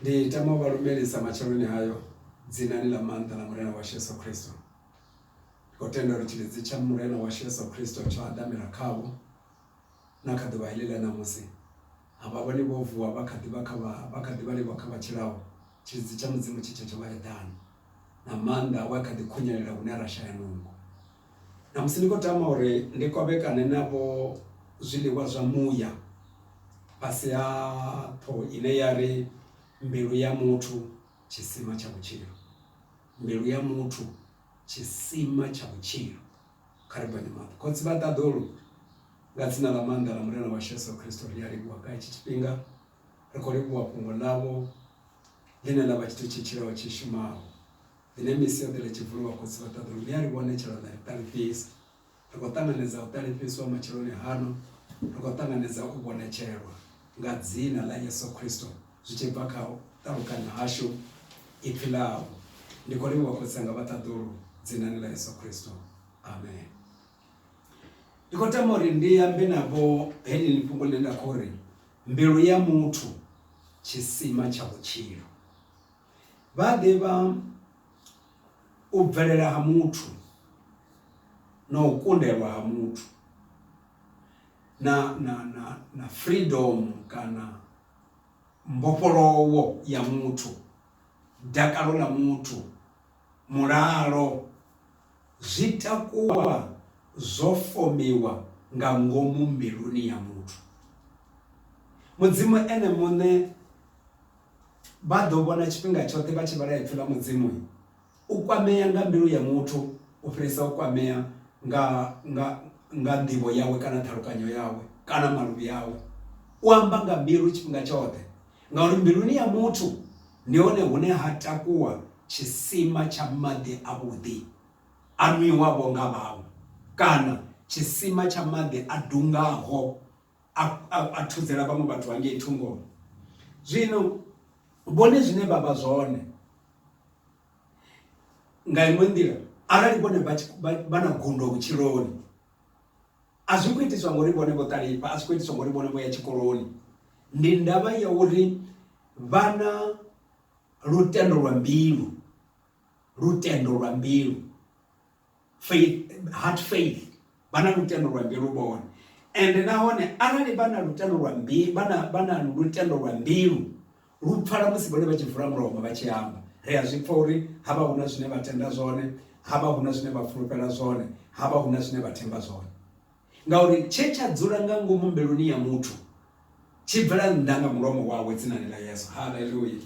Ndi tama u vha lumelisa matsheloni hayo dzinani ḽa maanḓa ḽa Murena washu Yesu Kristo. Ndi khou tenda uri tshilidzi tsha Murena washu Yesu Kristo tsho haḓamela khavho na kha ḓuvha heḽi ḽa ṋamusi. A vha vhoni vho vuwa vha kha ḓi vha kha vha vha kha ḓi vha livho kha vha tshilaho, tshilidzi tsha Mudzimu tshi tshe tsho vha eḓana, na maanḓa awe a kha ḓi khunyelela hune ra shaya nungo. Namusi ndi khou tama uri ndi kovhekane navho zwiḽiwa zwa muya fhasi ha ṱhoho ine ya ri, Mbilu ya muthu tshisima tsha vhutshilo. Mbilu ya muthu tshisima tsha vhutshilo. Kha ri ponye maṱo. Khotsi vha ṱaḓulu, nga dzina ḽa maanḓa ḽa Murena washu Yesu Kristo ri a livhuwa nga hetshi tshifhinga. Ri khou livhuwa fhungo ḽavho ḽine ḽa vha tshithu tshi tshilaho tshi shumaho. The name is Sioḓele Tshivhulu wa Khotsi vha Ṱaḓulu mme a ri vhone tshelo na ri ṱalifhisa. Ri khou ṱanganedza u ṱalifhiswa matsheloni hano, ri khou ṱanganedza u vhonetshelwa nga dzina ḽa Yesu Khristo zwi tshi bva kha u ṱalukanya hashu ipfi ḽau. Ndi khou livhuwa Khotsi anga vha Ṱaḓulu dzinani ḽa Yesu Khristo. Amen. Ndi khou tama uri ndi ambe navho heḽi fhungo ḽine nda khou ri mbilu ya muthu tshisima tsha vhutshilo. vha a ḓivha u bvelela ha muthu na u kundelwa ha muthu na na na na freedom kana mbofholowo ya muthu, dakalo ḽa muthu, mulalo zwi takuwa zwo fomiwa nga ngomu mbiluni ya muthu. Mudzimu ene muṋe Vha ḓo vhona tshifhinga tshoṱhe vha tshi vhala Ipfi ḽa Mudzimu u kwamea nga mbilu ya muthu u fhirisa u kwamea nga, nga, nga nḓivho yawe kana ṱhalukanyo yawe kana maluvhi awe. U amba nga mbilu tshifhinga tshoṱhe, ngauri mbiluni ya muthu ndi hone hune ha takuwa tshisima tsha maḓi avhuḓi a nwiwavho nga vhaṅwe, kana tshisima tsha maḓi a dungaho. a, a, a thudzela vhaṅwe vhathu hangei thungoni zwino vhone zwine vha vha zwone nga iṅwe nḓila arali vhone vha na gundo vhutshiloni a zwi khou itiswa ngori vhone vho ṱalifha a zwi khou itiswa ngori vhone vho ya tshikoloni ndi ndavha ya uri vha na lutendo lwa mbilu lutendo lwa mbilu faith heart faith vha na lutendo lwa mbilu vhone ende nahone arali vha na lutendo lwa mbilu vha na vha na lutendo lwa mbilu lu pfala musi vhone vha tshi vula mulomo vha tshi amba ri a zwi pfa uri ha vha huna zwine vha tenda zwone ha vha huna zwine vha fulufhela zwone ha vha huna zwine vha themba zwone ngauri tshe tsha dzula nga ngomu mbiluni ya muthu tshi bvela nnḓa nga mulomo wawe dzinani ḽa yesu haleluya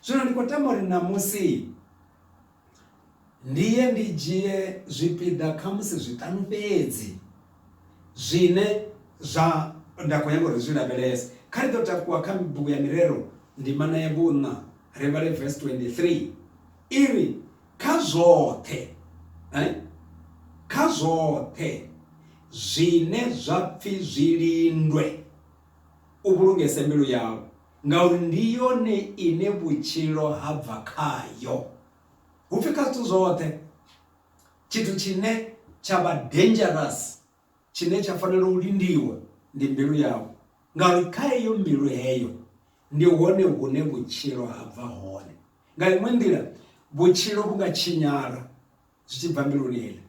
zwino ndi khou tama uri ṋamusi ndi ye ndi dzhie zwipiḓa khamusi zwiṱanu fhedzi zwine zwa nda khou nyanga uri zwi lavhelese kha ri ḓo takuwa kha bugu ya mirero ndimana ya vhunṋa ri vhale verse 23 i ri kha zwoṱhe eh? kha zwoṱhe zwine zwa pfhi zwi lindwe u vhulungese mbilu yau Ngauri ndi yone ine vhutshilo ha bva khayo. Hu pfi kha zwithu zwoṱhe, tshithu tshine tsha vha dangerous, tshine tsha fanela u lindiwa ndi mbilu yau. Ngauri kha heyo mbilu heyo, ndi hone hune vhutshilo ha bva hone. Nga iṅwe nḓila, vhutshilo vhu nga tshinyala zwi tshi bva mbiluni heila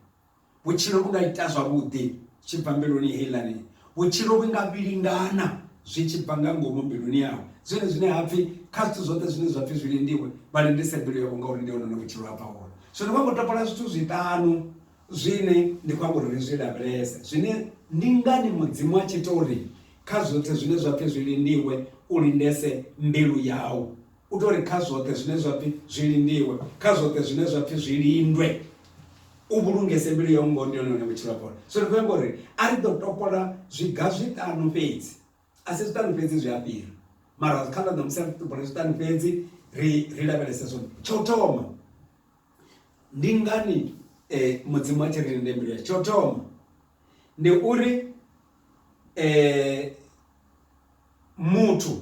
vhutshilo vhu nga ita zwavhuḓi tshi bva mbiluni heilani vhutshilo vhu nga vhilingana zwi tshi bva nga ngomu mbiluni yawe zwine zwine ha pfhi kha zwithu zwoṱhe zwine zwa pfhi zwi lindiwe vha lindise mbilu yavho ngauri ndi hone vhutshilo ha bva hone zwino vha khou topola zwithu zwiṱanu zwine ndi khou amba uri ri zwi lavhelese zwine ndi ngani mudzimu a tshi tori kha zwoṱhe zwine zwa pfhi zwi lindiwe u lindese mbilu yau U tou ri kha zwoṱhe zwine zwa pfi zwi lindiwe, kha zwoṱhe zwine zwa pfi zwi lindwe, u vhulungese mbilu yau ngoho ndi hone hune vhutshilo ha fhola. Zwino ri khou amba uri a ri ḓo topola zwiga zwiṱanu fhedzi, a si zwiṱanu fhedzi zwi a fhira mara kha ḽa ṋamusi a ri topola zwiṱanu fhedzi ri ri lavhelese zwone. Tsha u thoma ndi ngani Mudzimu a tshi ri linde mbilu yashu, tsha u thoma ndi uri Muthu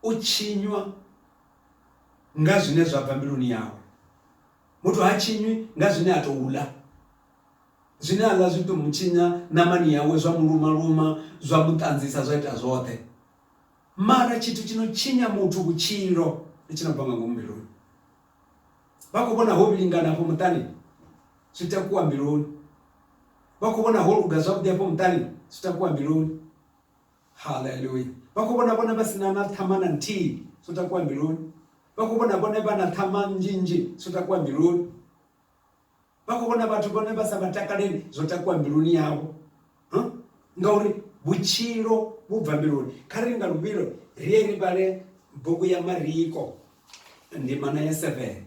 u tshinywa nga zwine zwa bva mbiluni yawe. Muthu ha tshinywi nga zwine a tou ḽa. Zwine a ḽa zwi tou mu tshinya ṋamani yawe, zwa mu luma luma, zwa mu ṱanzisa, zwa ita zwoṱhe. Mara tshithu tshi no tshinya muthu vhutshilo ndi tshi no bva nga ngomu mbiluni. Vha khou vhona ho vhilingana afho muṱani? Zwi takuwa mbiluni. Vha khou vhona ho luga zwavhuḓi afho muṱani? Zwi takuwa mbiluni. haleluya vha khou vhona vhone vha si na na ṱhama na nthihi zwo takuwa mbiluni vha khou vhona vhone vha na ṱhama nnzhi nnzhi zwo takuwa mbiluni vha khou vhona vhathu vhone vha sa vha takaleli zwo takuwa mbiluni yavho ngauri vhutshilo vhu bva mbiluni kha ri nga luvhilo ri ye ri vhale bugu ya mariko ndimana ya seven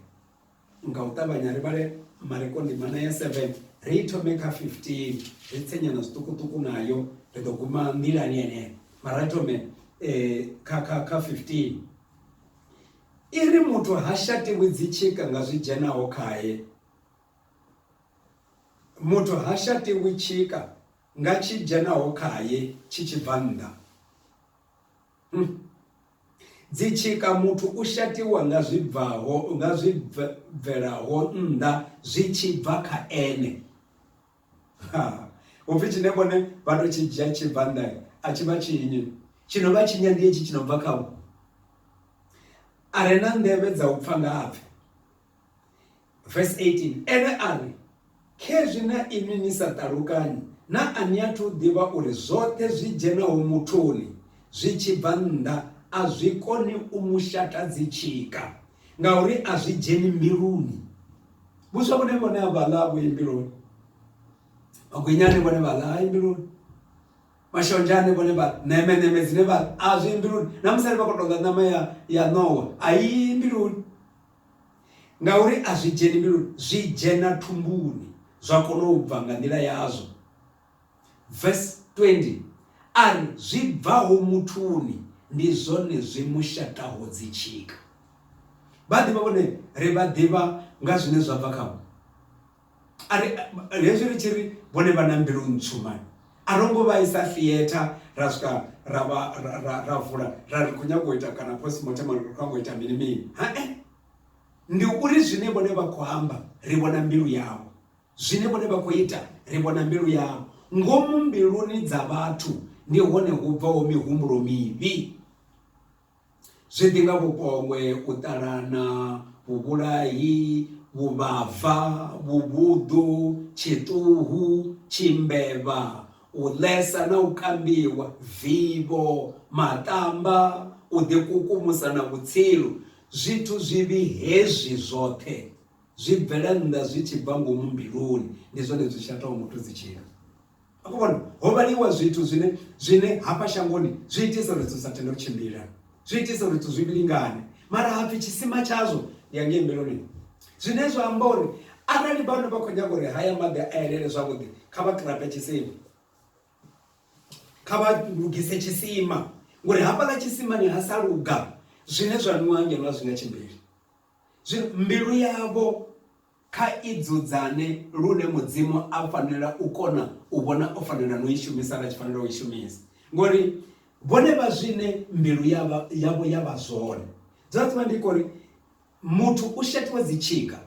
nga u ṱavhanya ri vhale mareko ndimana ya 7 ri i thome kha 15 ri tsenyana zwiṱukuṱuku nayo ri ḓo guma nḓilani yeneyo mara thome eh, kha kha kha 15 i ri muthu ha shatiwi dzitshika nga zwi dzhenaho khaye muthu ha shatiwi tshika nga tshi dzhenaho khaye tshi tshi bva nnḓa Dzitshika, Muthu u shatiwa nga zwi bvaho, nga zwi bvelaho nnḓa zwi tshi bva kha ene. Upfi tshine vhone vha to tshi dzhia tshi bva nnḓa a tshi vha tshinyi, tshi no vha tshinya ndi hetshi tshi no bva khavho. A re na nḓevhe dza u pfa nga apfe. Verse 18 ene a ri khezwi na inwi ni sa ṱalukanyi na a ni athu u ḓivha uri zwoṱhe zwi dzhenaho muthuni zwi tshi bva nnḓa a zwi koni u mu shata dzi tshika ngauri a zwi dzheni mbiluni vhuswa vhone vhone a vha ḽa vhuyi mbiluni magwinyane vhone vha ḽa hayi mbiluni mashonzhane vhone vha neme neme dzine vha a zwi mbiluni na musali vha khou tou ḽa ṋama ya ya ṋowa a yi mbiluni Ngauri a zwi dzheni mbiluni, zwi dzhena thumbuni, zwa kona u bva nga nḓila yazwo. Vesi 20, A ri, Zwi bvaho muthuni ndi zwone zwi mu shaṱaho dzitshika. Vhaḓivha vhone ri vha ḓivha nga zwine zwa bva khavho. A ri, hezwi ri tshi ri vhone vha na mbilu ntswu mani. A ro ngo vha isa theatre ra swika ra vha ra vula ra ri khou nyanga u ita kana postmortem ri khou nyanga u ita mini mini. Hae, ndi uri zwine vhone vha khou amba ri vhona mbilu yavho, zwine vhone vha khou ita ri vhona mbilu yavho. Ngomu mbiluni dza vhathu ndi hone hu bvaho mihumbulo mivhi. zwi ḓi nga vhupombwe, u ṱalana, vhuvhulahi, vhuvhava, vhuvhuḓu, tshiṱuhu, tshimbevha, u ḽesa na u kambiwa, vivho, maṱamba, u ḓikukumusa na vhutsilu. Zwithu zwivhi hezwi zwoṱhe zwi bvela nnḓa zwi tshi bva ngomu mbiluni, ndi zwone zwi shataho muthu dzi tshila. a khou vhona ho vhaliwa zwithu zwine zwine hafha shangoni zwi itisa uri zwithu sa tende u tshimbila zwi itisa uri zwithu zwi vhilingane mara hapfi tshisima tshazwo ndi ya ngei mbeloni zwine zwa amba uri arali vhana vha khou nyaga uri haya maḓi a elele zwavhuḓi kha vha kirata tshisima kha vha lugise tshisima ngori hafhaḽa tshisimani ha sa luga zwine zwa nwiwa ngeno a zwi nga tshimbili zwino mbilu yavho Kha i dzudzane lune Mudzimu a fanela u kona u vhona o fanela no i shumisa na tshi fanela u i shumisa ngori vhone vha zwine mbilu yavho yavho ya vha zwone dza tsima ndi kori muthu u shatiwa dzi tshika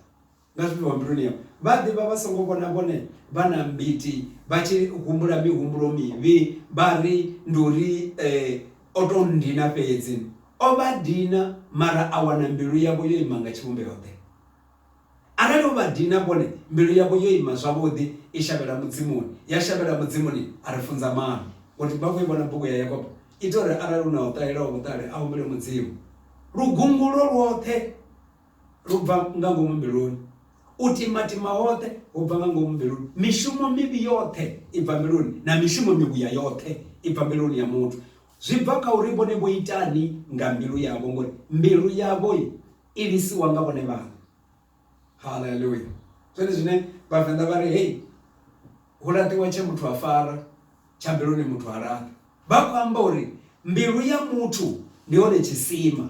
nga zwine wa mbiluni yavho vha ḓivha vha songo vhona vhone vha na mbiti vha tshi humbula mihumbulo mivhi vha ri ndi uri eh, o to ndina fhedzi o vha dina mara a wana mbilu yavho yo ima nga tshivhumbeo ḓe Arali u vha dina vhone, mbilu yavho yo ima zwavhuḓi i shavhela Mudzimuni, ya shavhela Mudzimuni a ri funza maano. Ngo tiba afho i vhona bugu ya Yakobo, ita uri arali hu na o ṱahelaho vhuṱali a humbele Mudzimu. Lugungulo lwoṱhe lu bva nga ngomu mbiluni, u timatima hoṱhe hu bva nga ngomu mbiluni. Mishumo mivhi yoṱhe i bva mbiluni, na mishumo mivhuya yoṱhe i bva mbiluni ya muthu. Zwi bva kha uri vhone vho itani nga mbilu yavho, ngori mbilu yavho Imisiwa nga vhone vhaṋe. Haleluya! Zwone zwine Vhavenḓa vha ri hei, Hu laṱiwa tshe muthu a fara, tsha mbiluni muthu ha laṱi. Vha khou amba uri mbilu ya muthu ndi hone tshisima.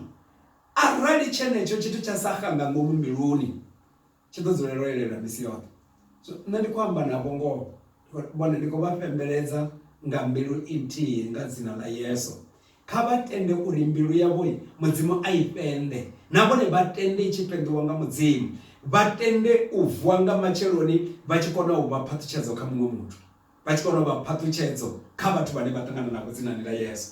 Arali tshenetsho tshithu tsha sa xa nga ngomu mbiluni, tshi ḓo dzulela u elelwa misi yoṱhe. So nṋe ndi khou amba navho ngoho, vhone ndi khou vha fhembeledza nga mbilu nthihi nga dzina ḽa Yesu. Kha vha tende uri mbilu yavho Mudzimu a i fhende, na vhone vha tende i tshi fhenḓiwa nga Mudzimu, vha tende u vuwa nga matsheloni vha tshi kona u vha phaṱhutshedzo kha muṅwe muthu, vha tshi kona u vha phaṱhutshedzo kha vhathu vhane vha ṱangana navho dzinani ḽa Yesu.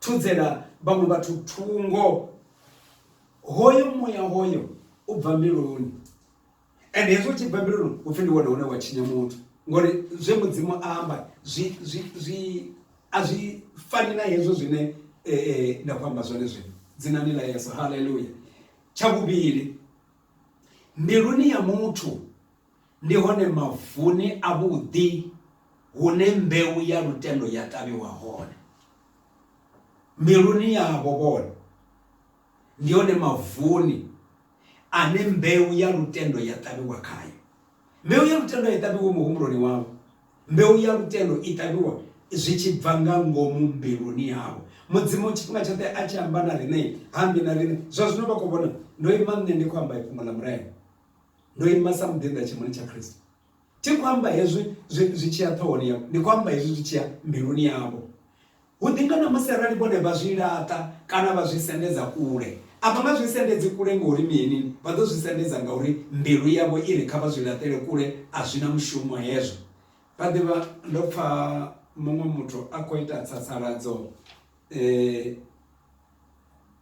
Thudzela vhaṅwe vhathu thungo. Hoyo muya hoyo u bva mbiluni and hezwi u tshi bva mbiluni hupfi ndi wone hune wa tshinya muthu ngori zwe mudzimu a amba zwi zwi zwi a zwi fani na hezwo zwine nda khou amba zwone zwino dzinani ḽa yeso haleluya tsha vhuvhili mbiluni ya muthu Ndi hone mavuni avhuḓi hune mbeu ya lutendo ya ṱavhiwa hone miluni yavho vhone ndi hone mavuni ane mbeu ya lutendo ya ṱavhiwa khayo mbeu ya lutendo a i ṱavhiwi muhumbuloni wavho mbeu ya lutendo i ṱavhiwa zwi tshi bva nga ngomu mbiluni yavho mudzimu tshifhinga tshoṱhe a tshi amba na riṋe hambi na riṋe zwa zwino vha khou vhona ndo ima nṋe ndi khou amba ifhungo ḽa murena Ndo ima sa muḓinḓa tshimoni tsha Kristo. Thi khou amba hezwi zwi tshi ya ṱhohoni yavho, ndi khou amba hezwi zwi tshi ya mbiluni yavho. Hu ḓi nga ṋamusi arali vhone vha zwi laṱa kana vha zwi sendedza kule, a vha nga zwi sendedzi kule ngauri mini? Vha ḓo zwi sendedza ngauri mbilu yavho i ri kha vha zwi laṱele kule, a zwi na mushumo hezwo. Vha ḓivha ndo pfa muṅwe muthu a khou ita tsatsaladzo eh,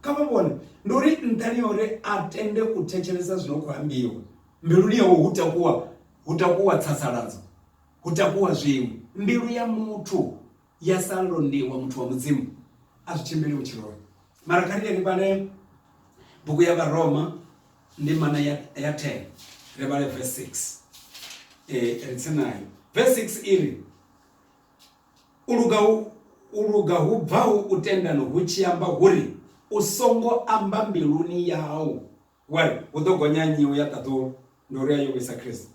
kha vha vhone ndi uri nṱhani ya uri a tende u thetshelesa zwi no khou ambiwa mbiluni yawe hu takuwa hu takuwa tsasaladzo hu takuwa zwiṅwe mbilu ya muthu ya sa londiwa muthu wa mudzimu a zwi tshimbili vhutshiloni mara kha ri yeni fhale bugu ya vharoma ndi mana ya 10 ri vhale verse 6 eh, ri tsini nayo verse 6 iri U luga hu u luga hu bvaho u tendani hu tshi amba hu ri, U songo amba mbiluni yau wa ri, Hu ḓo gonya nnyi u ya ṱaḓulu? Ndi uri a yo vhuisa Kristo.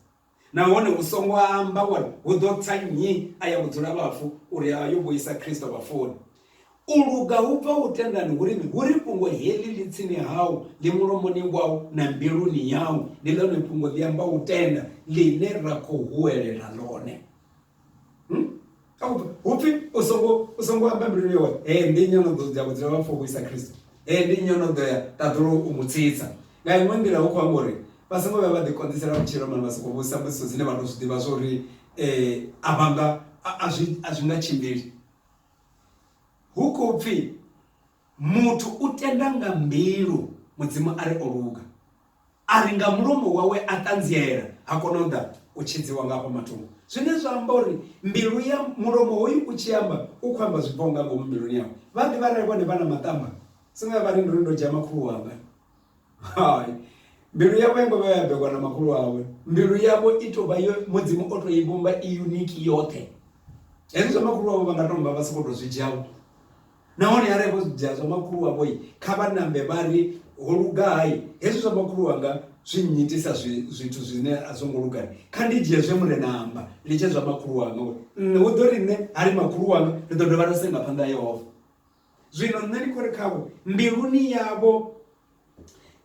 Nahone u songo amba wa ri, Hu ḓo tsa nnyi a ya vhudzula vhafu? Uri a yo vhuisa Kristo vhafuni. U luga hu bvaho u tendani hu ri mini? Hu ri, Fhungo heḽi ḽi tsini hau, ḽi mulomoni wau na mbiluni yau. Ndi ḽone fhungo ḽi ambaho u tenda ḽine ra khou huwelela ḽone. hmm? hu pfi u songo u songo amba mbiluni yawe ee ndi nnyi ono ḓo ya vhudzula vha pfha u isa khristo ee ndi nnyi ono ḓo ya ṱaḓulu u mu tsitsa nga iṅwe nḓila hu khou amba uri vha songo vhuya vha ḓikonḓisela vhutshilo mani vha sokou vhusa mbudziso dzine vha tou zwi ḓivha zwa uri um a vhanga a zwi nga tshimbili hu khou pfhi Muthu u tenda nga mbilu Mudzimu a ri o luga, a ri nga mulomo wawe a ṱanziela, ha kona u ḓa u tshidziwa nga afha mathungo. Zwine zwa amba uri mbilu ya mulomo hoyu u tshi amba, u khou amba zwi bvaho nga ngomu mbiluni yawe. Vha ḓivha arali vhone vha na maṱamba, songo ya vha ri nduri ndo dzhia makhulu wanga. Hai, mbilu yavho ya ngo vha ya bekwa na makhulu wawe. Mbilu yavho i tou vha yo Mudzimu o tou i vhumba i unique yoṱhe. Hezwi zwa makhulu wavho vha nga tou vha vha sokou tou zwi dzhia Nahone arali vho zwi dzhia zwa makhulu wavho, kha vha nambe vha ri, Ho luga hai! Hezwi zwa makhulu wanga zwi nnyitisa zwithu zwine a zwo ngo luga. Kha ndi dzhie zwe Murena a amba, ndi tshe zwa makhulu wanga, uri nṋe, hu ḓo ri nṋe, ha ri makhulu wanga, ri ḓo dovha ra senga phanḓa ha Yehova. Zwino nṋe ndi khou ri khavho, mbiluni yavho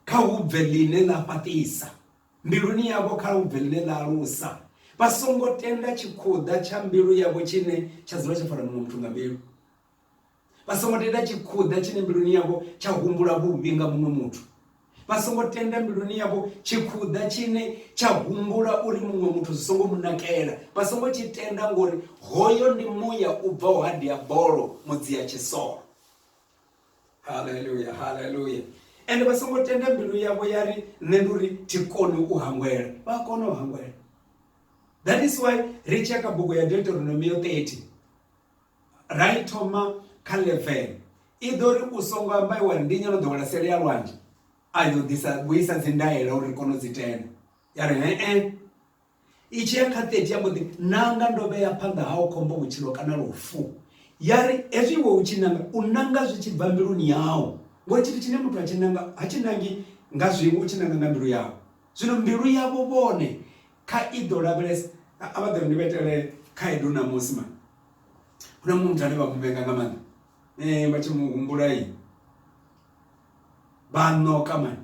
kha hu bve ḽine ḽa fhaṱisa, mbiluni yavho kha hu bve ḽine ḽa alusa, vha songo tenda tshikhuḓa tsha mbilu yavho tshine tsha dzula tsho fara muṅwe muthu nga mbilu. vha songo tenda tshikhuḓa tshine mbiluni yavho tsha humbula vhuvhi nga muṅwe muthu vha songo tenda mbiluni yavho tshikhuḓa tshine tsha humbula uri muṅwe muthu zwi songo mu nakela vha songo tshi tenda ngori hoyo ndi muya u bvaho ha diabolo mudzia tshisolo haleluya haleluya ende vha songo tenda mbilu yavho ya ri nṋe ndi uri thi koni u hangwela vha kona u hangwela that is why ri tsheka bugu ya deuteronomio 30 Ra i thoma kha 11 i ḓo ri u songo amba iwa ri ndi nyelo ḓowela sele ya lwanzhe a yo ḓisa vhuisa dzi ndaela uri kono dzi tenda ya ri he eh i tshi ya kha 30 ya mboḓi nanga ndo vhea phanḓa hao khombo vhutshilo kana lufu ya ri hezwi iwe u tshi nanga u nanga zwi tshi bva mbiluni yau ngori tshithu tshine muthu a tshi nanga ha tshi nangi nga zwiṅwe u tshi nanga nga mbilu yau zwino mbilu yavho vhone Kha i ḓo lavhelesa. A vha ḓo ri, Ni vha itele khaedu ṋamusi mara hu na muṅwe muthu ane vha mu vhenga nga maanḓa, vha tshi mu humbula vha a ṋoka mani.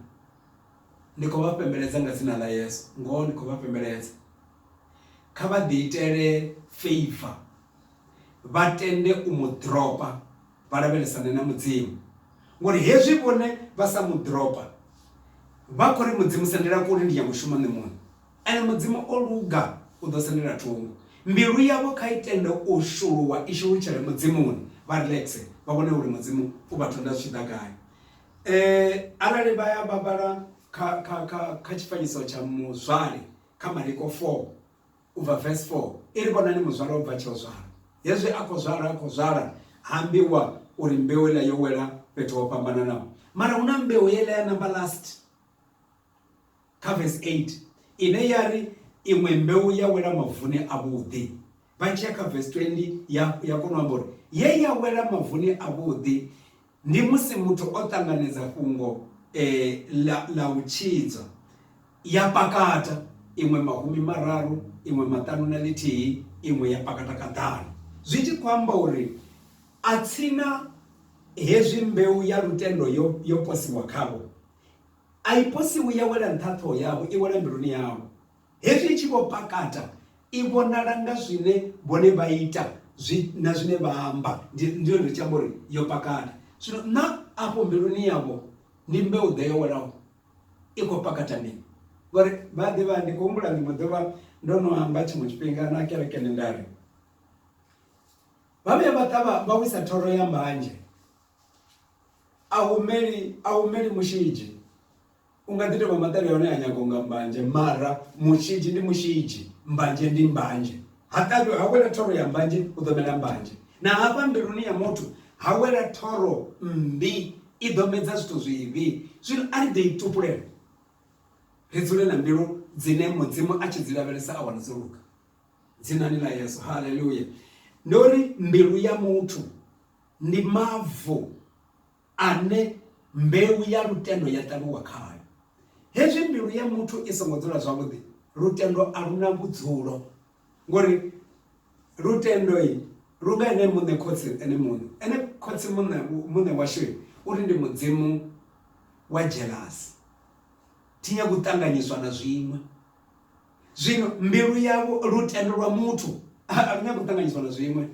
Ndi khou vha fhembeledza nga dzina ḽa Yesu, ngoho ndi khou vha fhembeledza. Kha vha ḓiitele feiva vha tende u mu ḓiropa. vha lavhelesane na mudzimu ngori hezwi vhone vha sa mu dropa vha khou ri mudzimu sendela kule ndi nyanga u shuma nṋe muṋe ene mudzimu o luga u ḓo sendela thungo mbilu yavho kha i tende u shuluwa i shulutshele mudzimuni vha relaxe vha vhone uri mudzimu u vha thonda zwi tshi ḓa gai um arali vha ya vha vhala kha kha kha kha tshifanyiso tsha muzwale kha mariko four u bva vesi 4 i ri vhonani muzwala o bva tsheo zwala hezwi a khou zwala a khou zwala ha ambiwa uri mbeu iḽa yo wela fhethu ho fhambananaho mara hu na mbeu yeḽa ya number last kha vesi 8 ine ya ri iṅwe mbeu ya wela mavuni a vhuḓi vha tshiya kha vesi 20 ya ya kona u amba uri ye ya wela mavuni a vhuḓi Ndi musi muthu o ṱanganedza fhungo ḽa ḽa u tshidzwa, ya pakata, iṅwe mahumi mararu, iṅwe maṱanu na ḽithihi, iṅwe ya pakata kaḓanu, zwi tshi khou amba uri atsina hezwi mbeu ya lutendo yo yo posiwa khavho, a i posiwi ya wela nṱha ha ṱhoho yavho, i wela mbiluni yavho. Hezwi i tshi vho pakata, i vhonala nga zwine vhone vha ita zwi, na zwine vha amba. Ndi, ndi hone ri tshi amba uri yo pakata. Zwino na afho mbiluni yavho ndi mbeu-ḓe yo welaho, i khou pakata mini? Ngori vha a ḓivha, ndi khou humbula ḽiṅwe ḓuvha ndo no amba tshiṅwe tshifhinga na kerekeni nda ri, vha vhuya vha ṱavha vha wisa thoro ya mbanzhe, a hu meli, a hu meli mushidzhi. U nga ḓi tou vha maṱari a hone a nyaga unga mbanzhe mara mushidzhi ndi mushidzhi, mbanzhe ndi mbanzhe. Ha ṱavhi ha wela thoro ya mbanzhe hu ḓo mela mbanzhe. Na hafha mbiluni ya muthu ha wela thoro mmbi i ḓo medza zwithu zwivhi. Zwino a ri ḓe i tupulele ri dzule na mbilu dzine mudzimu a tshi dzi lavhelesa a wana dzo luga dzinani ḽa yesu haleluya ndo ri mbilu ya muthu ndi mavu ane mbeu ya lutendo ya ṱavhiwa khayo. Hezwi mbilu ya muthu i songo dzula zwavhuḓi, lutendo a lu na vhudzulo ngori lutendo lu nga ene muṋe khotsi ene muṋe ene khotsi muṋe muṋe washu uri ndi mudzimu wa jealous thi nyagi u ṱanganyiswa na zwiṅwe zwino mbilu yavho lutendo lwa muthu a lu nyagi u ṱanganyiswa na zwiṅwe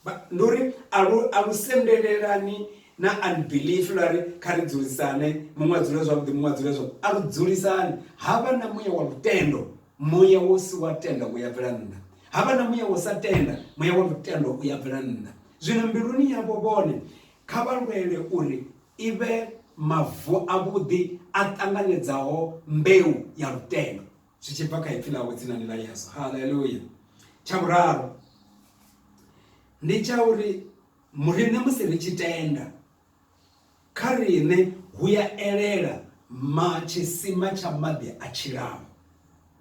Ba, ndi uri a lu, a lu sendelelani na unbelief lwa ri kha ri dzulisane muṅwe a dzule zwavhuḓi muṅwe a dzule zwavhuḓi a lu dzulisani ha vha na muya wa lutendo muya wo si wa tenda u ya bvela nnḓa ha vha na muya wo sa tenda muya wa lutendo u ya bvela nnḓa zwino mbiluni yavho vhone kha vha lwele uri i vhe mavu avhuḓi a ṱanganedzaho mbeu ya lutendo zwi tshi bva kha ipfi ḽawe dzinani ḽa yesu haleluya tsha vhuraru ndi tsha uri muriṋe musi ri tshi tenda kha riṋe hu ya elela ma tshisima tsha maḓi a tshilaho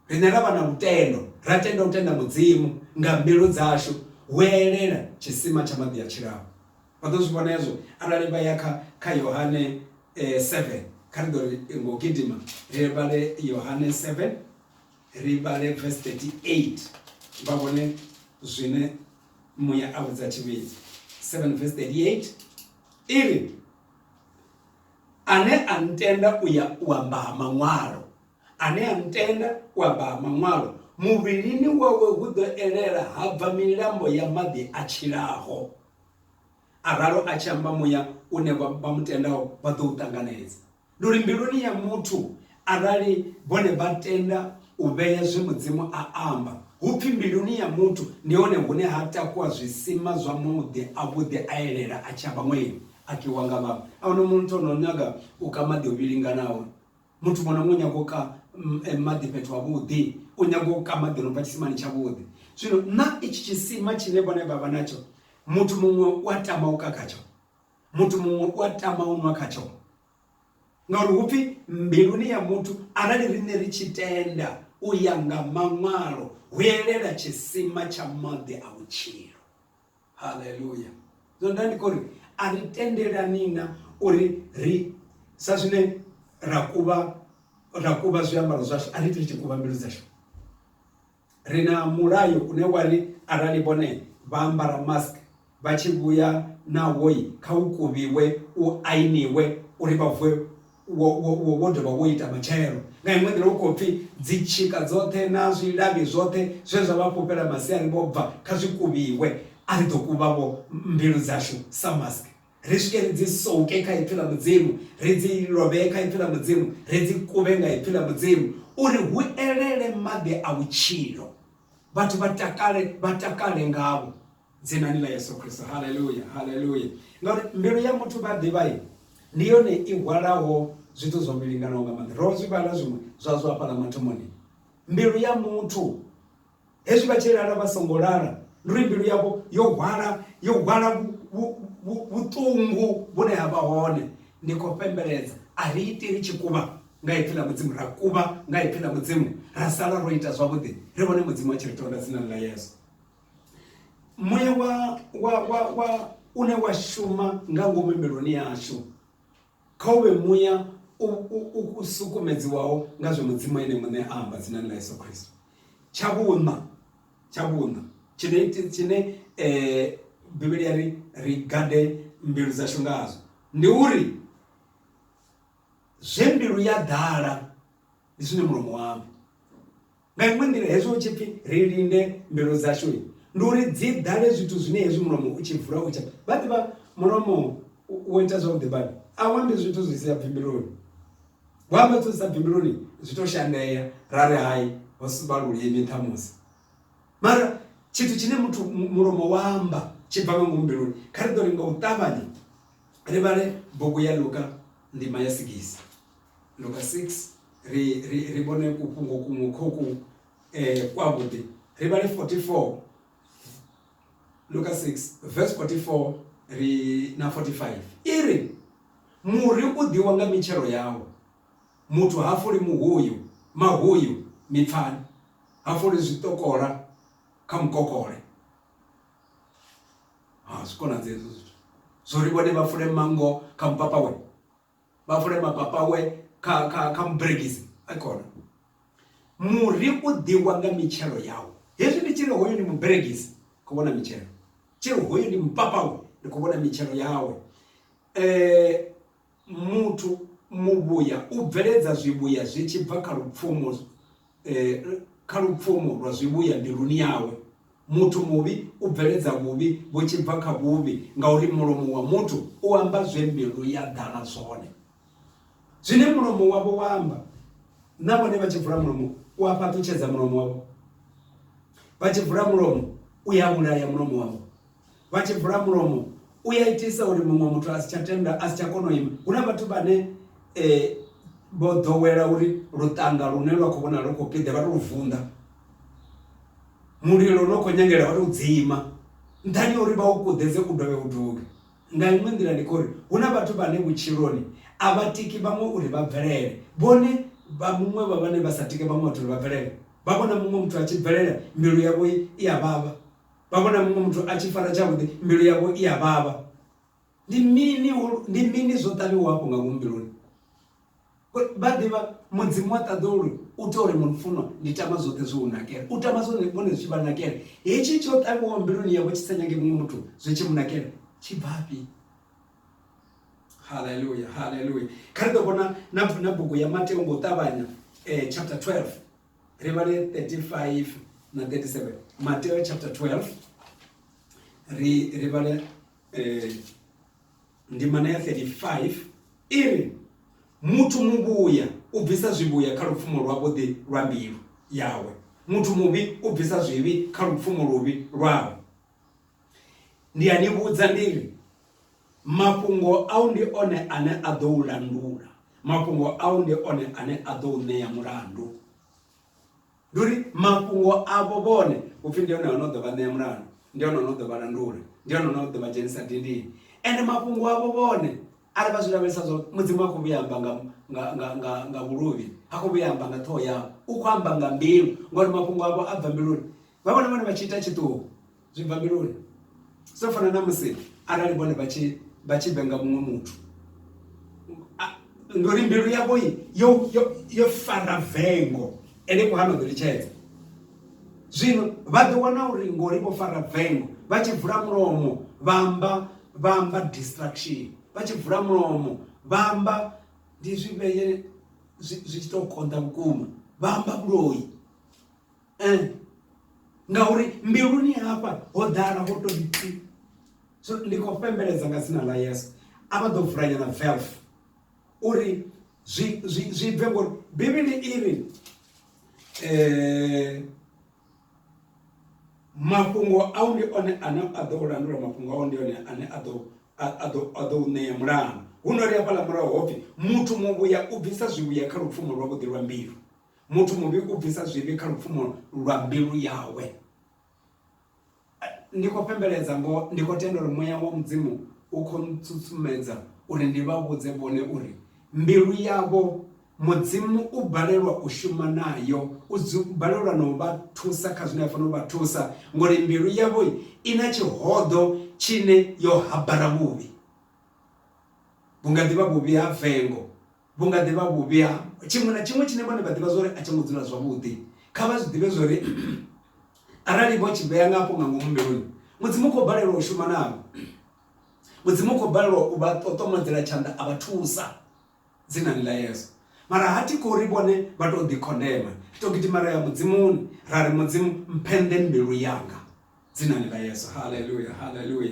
riṋe ra vha na lutendo ra tenda u tenda mudzimu nga mbilu dzashu hu elela tshisima tsha maḓi a tshilaho Vha ḓo zwi vhona hezwo arali vha ya kha, kha Yohane 7. Kha ri ḓo ri ngo gidima ri vhale Yohane 7, ri vhale verse 38, vha vhone zwine muya a vhudza tshivhidzi. 7 verse 38 i ri, Ane a ntenda u ya u amba ha maṅwalo, ane a ntenda u amba ha maṅwalo, muvhilini wawe hu ḓo elela ha bva milambo ya maḓi a tshilaho. a ralo a tshi amba muya une vha mu tendaho vha ḓo u ṱanganedza ndi uri mbiluni ya muthu arali vhone vha tenda u vhea zwe mudzimu a amba hu pfhi mbiluni ya muthu ndi hone hune ha takuwa zwisima zwa muḓi avhuḓi a elela a tshi amba ṅweni a kiwa nga vhaṅwe a huna muthu o no nyaga u ka maḓi o vhilinganaho Muthu muṅwe na muṅwe u nyaga u ka maḓi fhethu havhuḓi, u nyaga u ka maḓi a no bva tshisimani tshavhuḓi. Zwino na itshi tshisima tshine vhone vha vha natsho, muthu muṅwe u a tama u ka khatsho, muthu muṅwe u a tama u nwa khatsho. Ngauri hu pfi mbiluni ya muthu arali riṋe ri tshi tenda u ya nga maṅwalo hu elela tshisima tsha maḓi a vhutshilo. haleluya zwo nda ndi kori a ri tendelani na uri ri sa zwine ra kuvha ra kuvha zwiambaro zwashu a ri ite tshi kuvha mbilu dzashu ri na mulayo une wa ri arali vhone vha ambara mask vha tshi vhuya na woi kha u kuvhiwe u ainiwe uri vha vuwe Wo dovha wo ita matshelo. Nga iṅwe nḓila, hu khou pfi dzitshika dzoṱhe na zwilavhi zwoṱhe zwe zwa vha fhufhela masiari vho bva, kha zwi kuvhiwe. A ri ḓo kuvha-vho mbilu dzashu sa mask, ri swike ri dzi souke kha Ipfi ḽa Mudzimu, ri dzi lovhee kha Ipfi ḽa Mudzimu, ri dzi kuvhe nga Ipfi ḽa Mudzimu, uri hu elele maḓi a vhutshilo, vhathu vha takale, vha takale ngavho. dzinani ḽa yesu kristo haleluya haleluya ngauri mbilu ya muthu vha ḓivhai ndi yone i hwalaho zwithu zwo milinganaho nga maanḓa ro zwi vhala zwiṅwe zwa zwo hafhala mathomoni mbilu ya muthu hezwi vha tshi lala vha songo lala ndi uri mbilu yavho yo hwala yo hwala vhuṱungu vhune ha vha hone ndi khou fhembeledza a ri iti ri tshi kuvha nga ipfi ḽa mudzimu ra kuvha nga ipfi ḽa mudzimu ra sala ro ita zwavhuḓi ri vhone mudzimu a tshi ri tonda dzinani ḽa yesu Muya wa wa wa wa une wa shuma nga ngomu mbiluni yashu kha uvhe muya u sukumedziwaho nga zwe mudzimu ene muṋe a amba dzinani ḽa yesu khristo tsha vhuṋa tsha vhuṋa tshine tshine um bivhili ya ri ri gade mbilu dzashu ngazwo ndi uri zwe mbilu ya ḓala ndi zwine mulomo wavho Nga iṅwe nḓila, hezwi hu tshi pfi ri linde mbilu dzashu, ndi uri dzi ḓale zwithu zwine hezwi mulomo u tshi vula u tshi vha ḓivha mulomo wo ita zwavhuḓi badi a u ambi zwithu zwi si ya bvimbiloni wa amba zwithu zwi sa bvimbiloni zwi tou shandea ra ri hai ho sivha lulimi ṱhamusi mara tshithu tshine muthu mulomo wa amba tshi bva nga ngomu mbiluni kha ri ḓo ri nga u ṱavhanya ri vhale bugu ya luka ndima ya sigisi Luka 6 ri ri ri vhone ku fhungo kuṅwe kho ku kwa vhuḓi ri vhale 44 Luka 6 verse 44 ri na 45 iri muri u ḓiwa nga mitshelo yawo muthu ha fuli muhuyu mahuyu mipfani ha fuli zwiṱokola kha mukokole ha zwi konadza hezwo zwithu zwo ri vhone vha fule mango kha mupapawe. vha vule mapapa awe kha kha kha muberegisi a kona muri u ḓiwa nga mitshelo yawo hezwi ndi tshiri hoyo ndi muberegisi khou vhona mitshelo tshiri hoyo ndi mupapawe ndi khou vhona mitshelo yawe um muthu muvhuya u bveledza zwivhuya zwi tshi bva kha lupfumo eh, kha lupfumo lwa zwivhuya mbiluni yawe muthu muvhi u bveledza vhuvhi vhu tshi bva kha vhuvhi ngauri mulomo wa muthu u amba zwe mbilu ya ḓala zwone zwine mulomo wavho wa amba na vhone vha tshi vula mulomo u a fhaṱutshedza mulomo wavho vha tshi vula mulomo u ya vhulaya mulomo wavho vha tshi bula mulomo u ya itisa uri muṅwe muthu a si tsha tenda a si tsha kona u ima hu na vhathu vhane um vho ḓowela uri luṱanga lune lwa khou vhona lu khou piḓe vha to lu vunḓa mulilo no khou nyangela vha to dzima nṱhani ha uri vha u kuḓedze u dovhe u duge nga iṅwe nḓila ndi khouri hu na vhathu vhane vhutshiloni a vha tiki vhaṅwe uri vha bvelele vhone vha muṅwe vha vhane vha sa tike vhaṅwe vhathu uri vha bvelele vha vhona muṅwe muthu a tshi bvelela mbilu yavho i a vhavha. vha vhona muṅwe muthu a tshi fara tshavhuḓi mbilu yavho i a vhavha ndi mini ndi mini zwo ṱavhiwa hafho nga ngomu mbiluni vha ḓivha mudzimu wa ṱaḓulu u tea uri mufunwa ndi tama zwoṱhe zwi u nakela u tama zwone vhone zwi tshi vha nakela hetshi tsho ṱavhiwaho mbiluni yavho tshi sa nyagi muṅwe muthu zwi tshi mu nakela tshi bvafhi haleluya haleluya kha ri ḓo vhona na bugu ya mateo ngo ṱavhanya um chapter 12 ri vhale 35 na 37 mateo chapter 12 ri ri vhale eh, ndimana ya 35 iri muthu muvhuya u bvisa zwivhuya kha lupfumo lwavhuḓi lwa mbilu yawe muthu muvhi u bvisa zwivhi kha lupfumo luvhi lwawe ndi a ni vhudza ndi ri mafhungo au ndi one ane a ḓo u landula mafhungo au ndi one ane a ḓo u ṋea mulandu ndi uri mafhungo avho vhone upfhi ndi one ono ḓo vha ṋea mulandu ndi one ono ḓo vha landula ndi one ono ḓo vha dzhenisa dindini ende mafhungo avho vhone arali vha zwi lavhelesa zwo mudzimu a khou vhuya amba nga nga nga nga nga vhuluvhi a khou vhuya amba nga ṱhoho yavho u khou amba nga mbilu ngori mafhungo avho a bva mbiluni vha vhone vhone vha tshi ita tshiṱuhu zwi bva mbiluni so fana na musi arali vhone vha tshi vha tshi vhenga muṅwe muthu ndi uri mbilu yavho yo yo fara vengo ene ku hano ḓo litshedza zwino vha ḓo wana uri ngori vho fara vengo vha tshi vula mulomo vha amba vha amba distraction vha tshi vula mulomo vha amba ndi zwivheye zwi tshi tou konḓa vhukuma vha amba vhuloyi eh ngauri mbiluni hafha ho ḓala ho to ri so ndi khou fhembeledza nga dzina ḽa yesu a vha ḓo vula nyana velf uri zwi zwi zwi bve ngori bivhili i ri eh mafhungo a u ndi one ane a ḓo landula mafhungo a u ndi one ane a ḓo a ḓo a ḓo ṋea mulandu hu no ri hafhaḽa murahu hopfi muthu muvhuya u bvisa zwivhuya kha lupfumo lwavhuḓi lwa mbilu Muthu muvhi u bvisa zwivhi kha lupfumo lwa mbilu yawe. Ndi khou fhembeledza ngo ndi khou tenda uri muya wa Mudzimu u khou ntsutsumedza uri ndi vha vhudze vhone uri mbilu yavho Mudzimu u balelwa u shuma nayo, u balelwa na u vha thusa kha zwine a fanela u vha thusa ngori mbilu yavho i na tshihoḓo tshine yo habara vhuvhi. Vhu nga ḓi vha vhuvhi ha vengo, Vhu nga ḓi vha vhuvhi ha tshiṅwe na tshiṅwe tshine vhone vha ḓivha zwa uri a tsho ngo dzula zwavhuḓi. Kha vha zwi ḓivhe zwa uri arali vho tshi vhea nga afho nga ngomu mbiluni, Mudzimu u khou balelwa u shuma navho. Mudzimu u khou balelwa u vha ṱoṱomedzela tshanḓa a vha thusa dzinani ḽa Yesu. Mara ha thi khou ri vhone vha tou ḓikhondema. Ri tou gidima ra ya Mudzimuni ra ri, Mudzimu, mphenḓe mbilu yanga dzinani ḽa Yesu. Haleluya! Haleluya!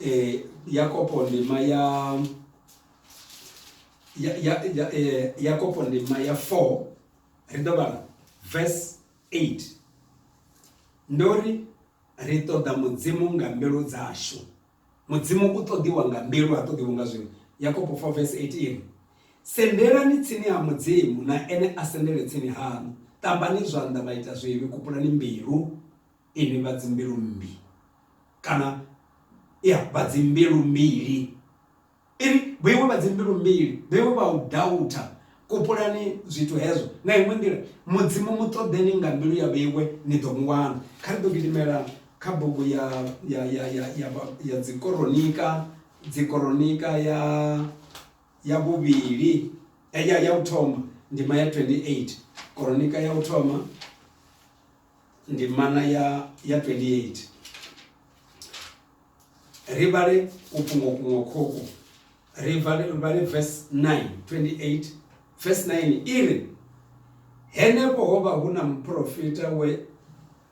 eh, yakopo ndima ya ya ya ya eh, yakopo ndima ya 4 ri ḓo vhala verse 8 ndo ri ri ṱoḓa mudzimu nga mbilu dzashu mudzimu u ṱoḓiwa nga mbilu ha ṱoḓiwa nga zwino yakobo 4 vs 18 sendelani tsini ha mudzimu na ene a sendele tsini hanu ṱambani zwanḓa vha ita zwivhi kupulani mbilu Inwi vha dzimbilu mmbi, kana, ya, vha dzimbilu mbili, inwi vhoiwe vha dzimbilu mbili, vhoiwe vha u dautha, kupulani zwithu hezwo nga iṅwe nḓila. Mudzimu mu ṱoḓeni nga mbilu ya vhoiwe, ni ḓo mu wana. Kha ri ḓo gidimela kha bugu ya, ya, ya, ya, ya, ya Dzikoronika, Dzikoronika ya, ya vhuvhili, ya, ya u thoma, ndima ya 28. Koronika ya u thoma. ndimana ya ya 28 ri vhale ku fhungo kuṅwe khoku ri vhale ri vhale verse 9 28 verse 9 iri henefho ho vha hu na muprofita we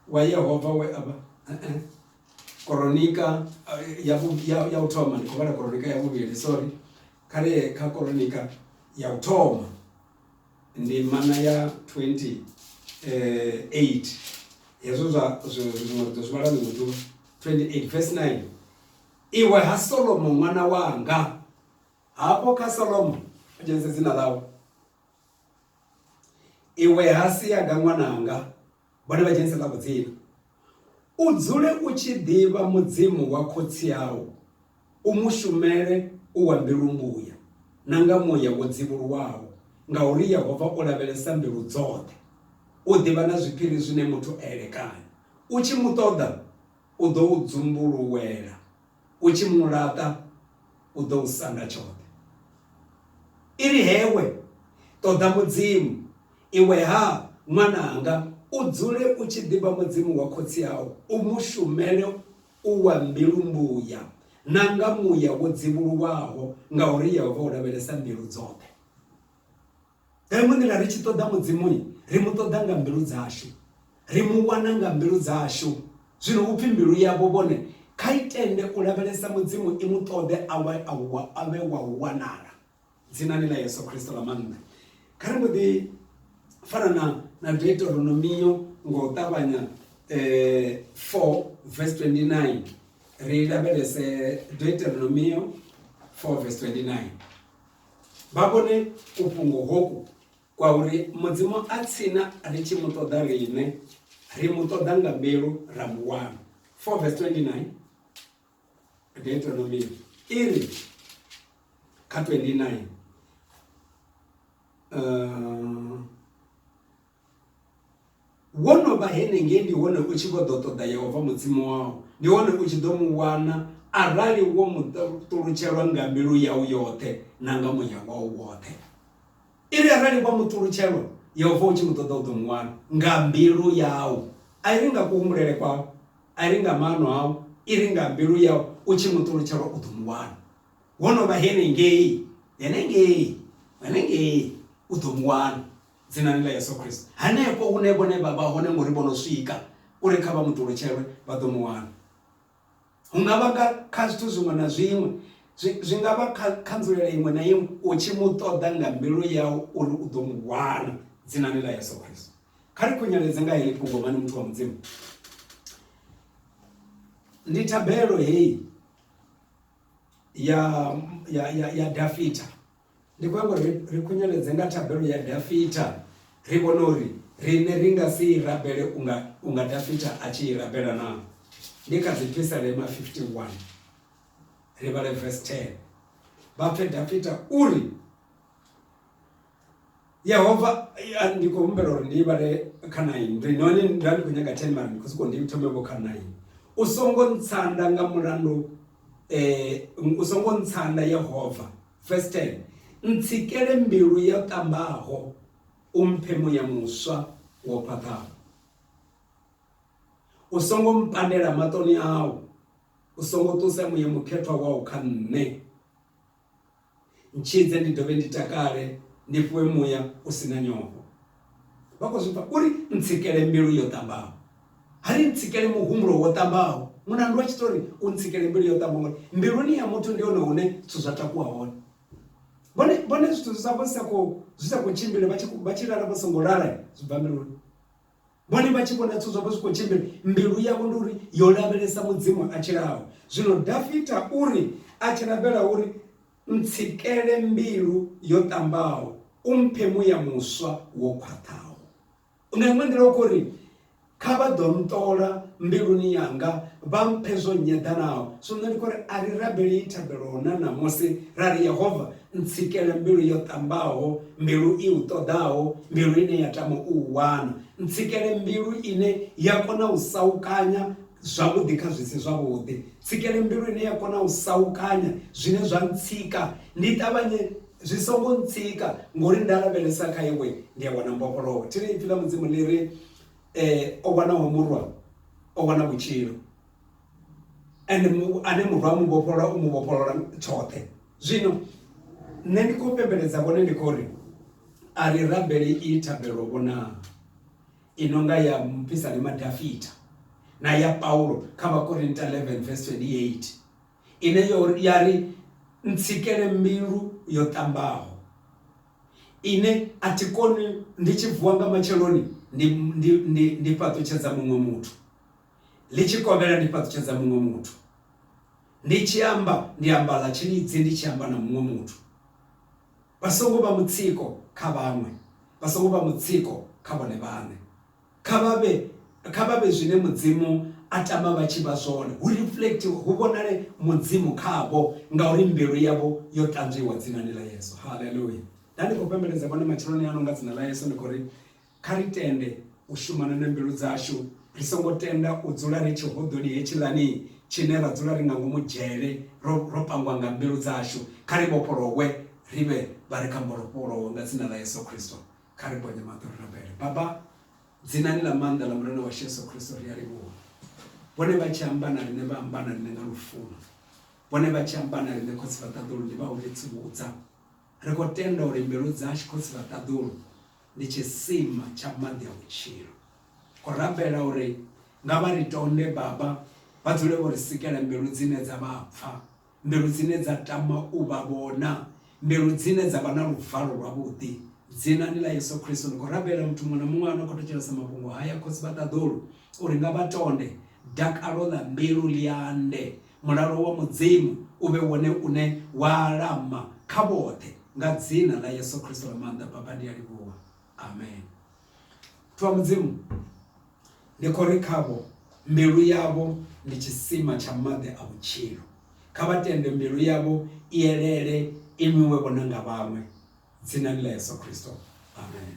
wa Yehova we avha uh eh, -uh. Eh, koronika eh, ya ya ya u thoma ndi khou vhala koronika ya vhuvhili sorry kha ri kha koronika ya u thoma ndimana ya 28 eh, hezwo zwa zwiṅwe ri ḓo zwi vhala ḽiṅwe ḓuvha 28 verse 9 iwe ha solomo ṅwana wanga hafho kha solomo a dzhenise dzina ḽawe iwe ha siyaga ṅwananga vhone vha dzhenise ḽa vhudzina u dzule u tshi ḓivha mudzimu wa khotsi au u mu shumele u wa mbilu mbuya na nga muya wo dzivhuluwaho ngauri yehova u lavhelesa mbilu dzoṱhe u ḓivha na zwiphiri zwine muthu a elekanya u tshi mu ṱoḓa u ḓo u dzumbuluwela U tshi mu laṱa, u ḓo u sanda tshoṱhe. I ri, Hewe, ṱoḓa Mudzimu, iwe-ha, ṅwananga, u dzule u tshi ḓivha Mudzimu wa khotsi au, u mu shumele u wa mbilu-mbuya na nga muya wo dzivhuluwaho, ngauri Yehova u lavhelesa mbilu dzoṱhe. Nga iṅwe nḓila ri tshi ṱoḓa Mudzimu ri mu ṱoḓa nga mbilu dzashu, ri mu wana nga mbilu dzashu. Zwino hupfi mbilu yavho vhone kha i tende u lavhelesa Mudzimu i mu ṱoḓe a wa a wa a vhe wa u wanala. Dzinani ḽa Yesu Kristo ḽa maanḓa. Kha ri mbo ḓi fana na na Deuteronomio ngo ṱavhanya eh 4 verse 29 ri lavhelese Deuteronomio 4 verse 29. vha vhone kufhungo hoku kwa uri Mudzimu a tsina ri tshi mu ṱoḓa riṋe, ri mu ṱoḓa nga mbilu ra mu wana. 4 verse 29 Deuteronomy iri kha 29 uh, Wo no vha henengei ndi hone u tshi vho ḓo ṱoḓa Yehova Mudzimu wau, ndi hone u tshi ḓo mu wana arali wo mu ṱulutshelwa nga mbilu yau yoṱhe na nga muya wau woṱhe. I ri arali wa mu ṱulutshelwa Yehova u tshi mu ṱoḓa u ḓo mu wana nga mbilu yau, a i ri nga kuhumbulele kwau, a i ri nga maano au, i ri nga mbilu yau u tshi mu ṱulutshelwa u ḓo mu wana. Wo no vha henengei, henengei, henengei u ḓo mu wana. Dzinani ḽa Yesu Kristo, hanefho hune vhone vha vha hone, ngori vho no swika uri kha vha mu ṱulutshelwe, vha ḓo mu wana. Hu nga vha nga kha zwithu zwiṅwe na zwiṅwe, zwi, zwi nga vha kha, kha nzulele iṅwe na iṅwe, u tshi mu ṱoḓa nga mbilu yau uri u ḓo mu wana, dzinani ḽa Yesu Kristo. Kha ri khunyeledze nga heḽi fhungo, mani muthu wa Mudzimu. Ndi thabelo heyi ya, ya, ya, ya Dafita, Ndi khou nyaga uri ri khunyeledze nga thabelo ya Dafita, ri vhone uri riṋe ri nga si i rabele unga, unga Dafita a tshi i rabela naa? Ndi kha Dzipisalema 51. Ri vhale vesi 10. Vha pfe Dafita u ri. yehova ya, ndi khou humbela uri ndi vhale kha naini ndi noni nda ndi khou nyaga ten mara ndi khou sokou ndi thome vho kha naini u songo ntsanda nga mulandu um u songo ntsanda yehova first ten ntsikele mbilu yo ṱambaho u mphe muya muswa wo khwaṱhaho u songo mpandela maṱoni au u songo ṱusa muya mukhethwa wau kha nṋe ntshidze ndi dovhe ndi takale ndi fhiwe muya u si na nyofho vha khou zwi pfa uri ntsikele mbilu yo ṱambaho ha ri ntsikele muhumbulo wo ṱambaho mulandu wa tshitori u ntsikele mbilu yo ṱambaho ngori mbiluni ya muthu ndi hone hune zwithu zwa takuwa hone vhone vhone zwithu zwi sa vho sa khou zwi sa khou tshimbila vha tshi vha tshi lala vho songo lala zwi bva mbiluni Vhone vha tshi vhona zwithu zwavho zwi khou tshimbila, mbilu yavho ndi uri yo lavhelesa Mudzimu a tshilaho. Zwino Dafita u ri, A tshi rabela u ri, Ntsikele mbilu yo ṱambaho, u mphe muya muswa wo khwaṱhaho. Nga iṅwe nḓila u khou ri, Kha vha ḓo nṱola mbiluni yanga, vha mphe zwo nnyeḓanaho. Zwino nṋe ndi khou ri a ri rabelei thabelo na ṋamusi ra ri, Yehova, Ntsikele mbilu yo ṱambaho, mbilu i u ṱoḓaho, mbilu ine ya tama u u wana. Ntsikele mbilu ine ya kona u saukanya zwavhuḓi kha zwi si zwavhuḓi. Tsikele mbilu ine ya kona u saukanya zwine zwa ntsika, ndi ṱavhanye zwi songo ntsika ngori nda lavhelesa kha iwe ndi a wana mbofholowo. Thi ri ipfi ḽa Mudzimu ḽi ri o wanaho murwa o wana vhutshilo. ende ane murwa a mu vhofholola u mu vhofholola tshoṱhe zwino nṋe ndi khou pembeledza vhone ndi khou ri a ri rabele i thabelo vhona i no nga ya mupisani madafita na ya paulo kha vhakorinta 11 verse 28 ine yo ya ri ntsikele mbilu yo ṱambaho ine a thi koni ndi tshi vuwa nga matsheloni ndi ndi ndi ndi fhaṱutshedza muṅwe muthu ḽi tshi kovhela ndi fhaṱutshedza muṅwe muthu, ndi tshi amba ndi amba ḽa tshilidzi ndi tshi amba na muṅwe muthu. Vha songo vha mutsiko kha vhaṅwe, vha songo vha mutsiko kha vhone vhaṋe. Kha vha vhe kha vha vhe zwine Mudzimu a tama vha tshi vha zwone, hu reflectiwe, hu vhonale Mudzimu khavho, ngauri mbilu yavho yo ṱanzwiwa dzinani ḽa Yesu. Haleluya! Nda ndi khou fhembeledza vhone matsheloni ano nga dzina ḽa Yesu ndi khou ri, Kha ri tende u shumana na mbilu dzashu, ri songo tenda u dzula ri tshihoḓoni hetshiḽani tshine ra dzula ri nga ngomu dzhele ro, ro pangwa nga mbilu dzashu. Kha ri vhofholowe ri vhe vha re kha mbofholowo nga Dzina ḽa Yesu Kristo. Kha ri ponye maṱo ri rabele. Baba, Dzinani ḽa maanḓa ḽa Murena washu Yesu Kristo, ri a livhuwa. Vhone vha tshi amba na riṋe, vha amba na riṋe nga lufuno. Vhone vha tshi amba na riṋe, Khotsi Vhaṱaḓulu, ndi vha u ri tsivhudza. Ri khou tenda uri mbilu dzashu, Khotsi Vhaṱaḓulu, ndi tshisima tsha maḓi a vhutshilo. Khou rabela uri nga vha ri tonde Baba, vha dzule vho ri sikela mbilu dzine dza vha pfa, mbilu dzine dza tama u vha vhona, mbilu dzine dza vha na luvalo lwavhuḓi. Dzinani ḽa Yesu Kristo ndi khou rabela muthu muṅwe na muṅwe ano khou thetshelesa mafhungo haya, Khotsi vha ṱaḓulu uri nga vha tonde dakalo ḽa mbilu ḽi ande, Mulalo wa Mudzimu u vhe wone une wa alama kha vhoṱhe nga dzina ḽa Yesu Kristo ḽa maanḓa. Baba, ndi a livhuwa. Amen. Muthu wa Mudzimu, ndi khou ri khavho mbilu yavho ndi tshisima tsha maḓi a vhutshilo. Kha vha tende mbilu yavho i elele i nwiwe vhona nga vhaṅwe dzinani ḽa Yesu Kristo. Amen.